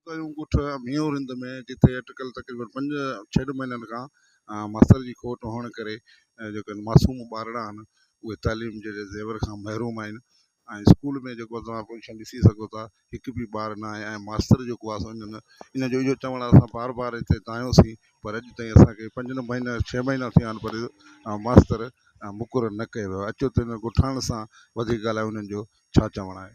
ڪيون ڳوٺ ميون رند ۾ جتي اٽڪل تقريبن پنج ڇهه مهينن کان ماستر جي کوٽ هئڻ ڪري جيڪي معصوم ٻارڙا آهن اهي تعليم جهڙي زيور کان محروم آهن ۽ اسڪول ۾ جيڪو توهان پوزيشن ڏسي سگهو ٿا هڪ به ٻار نه آهي ۽ ماستر جيڪو آهي سو انهن ان جو اهو چوڻ اسان بار بار هتي دانهيوسين پر اڄ تائين اسانکي پنج نه مهينا ڇهه مهينا ٿيا آهن پر ماستر مقرر نه ڪيو ويو اچو ته هن ڳوٺاڻن سان وڌيڪ ڳالهايو انهن جو ڇا چوڻ آهي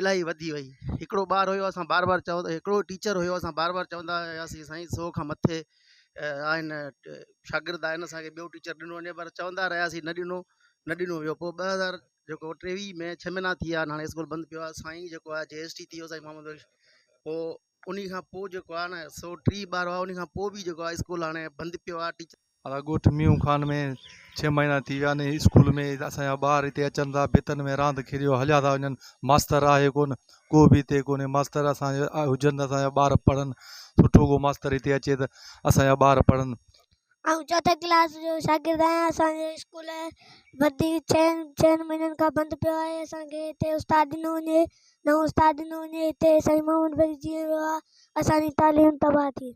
الاهي وڌي وئي هڪڙو ٻار هيو اسان بار بار چوند هڪڙو ٽيچر هيو اسان بار بار چوندا هياسين سائين سو کان مٿي آهن شاگرد آهن اسان کي ٻيو ٽيچر ڏنو وڃي پر چوندا رهياسين نه ڏنو نه ڏنو ويو پوء ٻه هزار جيڪو ٽيويهه ۾ ڇهه مهينا ٿي ويا هاڻي اسڪول بند پيو آهي سائين جيڪو آهي جي ايس ٽي ٿي ويو سائين محمد بخش پوء انهي کان پوء جيڪو آهي نه سو ٽي ٻارو آهي انهي کان پوء به جيڪو آهي اسڪول هاڻي بند پيو آهي ٽيچر. اسان ڳوٺ ميون خان ۾ ڇهه مهينا ٿي ويا ني اسڪول ۾ اسان جا ٻار هتي اچن ٿا ڀتن ۾ راند کيڏيو هليا ٿا وڃن ماستر آهي ڪون ڪو به هتي ڪونهي ماستر اسان جا هجن ته اسان جا ٻار پڙهن سٺو ڪو ماستر هتي اچي ته اسان جا ٻار پڙهن آئون چوٿين ڪلاس جو شاگرد آهيان اسان جو اسڪول بدي چئن چئن مهينن کان بند پيو آهي اسانکي هتي استاد ڏنو وڃي نئون استاد ڏنو وڃي هتي سائين محمد بلوچ جي ويو آهي اسانجي تعليم تباهه ٿي